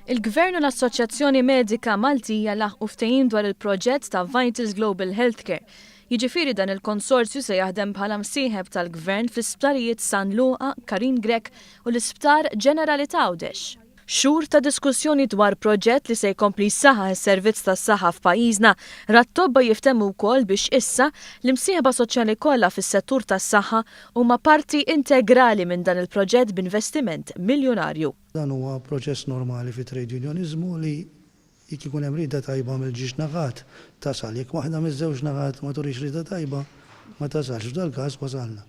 Il-Gvern u l-Assoċjazzjoni Medika Maltija laħqu ftehim dwar il-proġett ta' Vitals Global Healthcare. Jiġifieri dan il-konsorzju se jaħdem bħala msieħeb tal-Gvern fl-isptarijiet San Luqa, Karim Grech u l-Isptar Ġenerali t'Għawdex. Xhur ta' diskussjoni dwar proġett li se jkompli jsaħħaħ is-servizz tas-saħħa f'pajjiżna ra t-tobba jiftehmu wkoll biex issa, l-imsieħba soċjali kollha fis-settur tas-saħħa huma parti integrali minn dan il-proġett b'investiment miljunarju. Dan huwa proċess normali fit-trade unioniżmu li jekk ikun hemm rieda tajba mill-ġiex naħat, tasal. Jekk waħda miż-żewġ naħat ma turix rieda tajba, ma tasalx. F'dal-każ wasalna.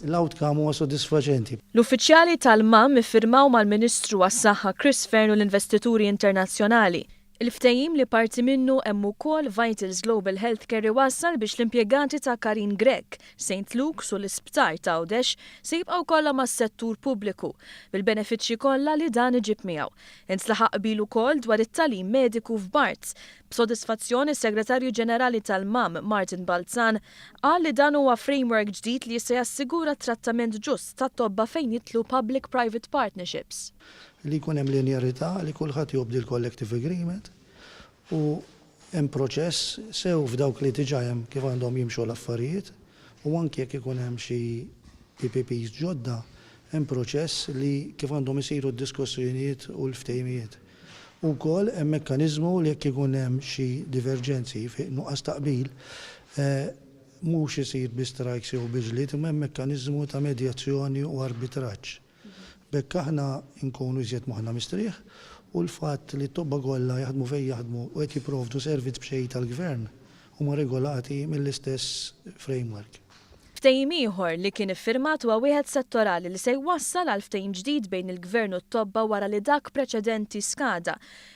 L-outcome huwa sodisfaċenti. L-uffiċjali tal-MAM iffirmaw mal-Ministru għas-Saħħa Chris Fearne u l-investituri internazzjonali, il-ftehim li parti minnu hemm ukoll Vitals Global Healthcare iwassal biex l-impjegati ta' Karin Grech, Saint Luke's u l-Isptar t'Għawdex se jibqgħu kollha mas-settur pubbliku, bil-benefiċċji kollha li dan iġib miegħu. Intlaħaq qbil ukoll dwar it-tagħlim mediku f'Barts. B'sodisfazzjon, is-Segretarju Ġenerali tal-MAM, Martin Balzan, Qal li dan huwa framework ġdid li se jassigura t-trattament ġust tat-tobba fejn jidħlu public-private partnerships. Li jkun hemm linearità, li kulħadd jobdi l-collective agreement u hemm proċess sew f'dawk li diġà hemm kif għandhom jimxu l-affarijiet u anki jekk ikun hemm xi PPPs ġodda hemm proċess li kif għandhom isiru d-diskussjonijiet u l-ftehimijiet. Ukoll hemm mekkaniżmu li jekk ikun hemm xi diverġenzi, fi nuqqas ta' qbil, mhux isir bi strajks jew bi ġlied imma hemm mekkaniżmu ta' medjazzjoni u arbitraġġ. B'hekk aħna nkunu iżjed moħħna mistrieħ u l-fatt li t-tobba kollha jaħdmu fejn jaħdmu u qed jipprovdu servizz b'xejn tal-Gvern huma regolati mill-istess framework. Ftehim ieħor li kien iffirmat huwa wieħed settorali li se jwassal għal ftehim ġdid bejn il-Gvern u t-tobba wara li dak preċedenti skada.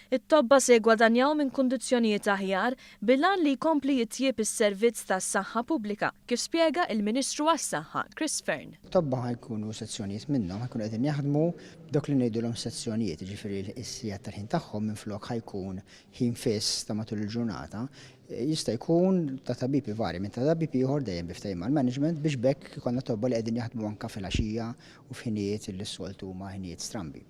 It-tobba se jiggwadanjaw minn kundizzjonijiet aħjar bil-għan li jkompli jitjieb is-servizz tas-saħħa pubblika, kif spjega il-Ministru għas-Saħħa, Chris Fearne. It-tobba ħa jkunu sezzjonijiet minnhom ħa jkunu qegħdin jaħdmu b'dawk li ngħidulhom sezzjonijiet, jiġifieri is-sigħat tal-ħin tagħhom minflok ħa jkun ħin fiss ta' matul il-ġurnata, jista' jkun ta' tabib ivarja minn ta' tabib ieħor dejjem bi ftehim mal-management biex b'hekk ikollna tobba li qegħdin jaħdmu anke filgħaxija u f'ħinijiet li s-soltu huma ħinijiet strambi.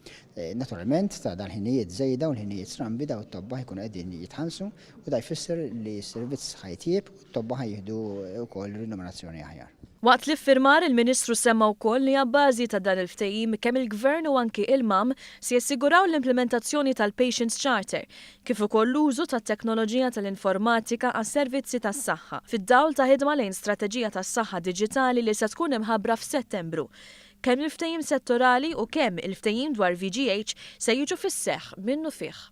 Naturalment, ta' dal-ħinijiet żejda u l-ħinijiet strambi dawn it-tobba ħa jkunu qegħdin jitħallsu u da jfisser li s-servizz ħa jitjieb Tobba ħa jieħdu wkoll rinominazzjoni aħjar. Waqt l-iffirmar, il-Ministru semma wkoll li abbażi ta' dan il-ftehim kemm il-Gvern u anki il-MAM se jassiguraw l-implimentazzjoni tal-Patients Charter kif ukoll l-użu tat-teknoloġija tal-informatika għas-servizzi tas-saħħa fid-dawl ta' ħidma lejn strateġija tas-saħħa diġitali li se tkun imħabbra f'Settembru. Kemm il-ftehim settorali u kemm il-ftehim dwar VGH se jiġu fis-seħħ minnufih.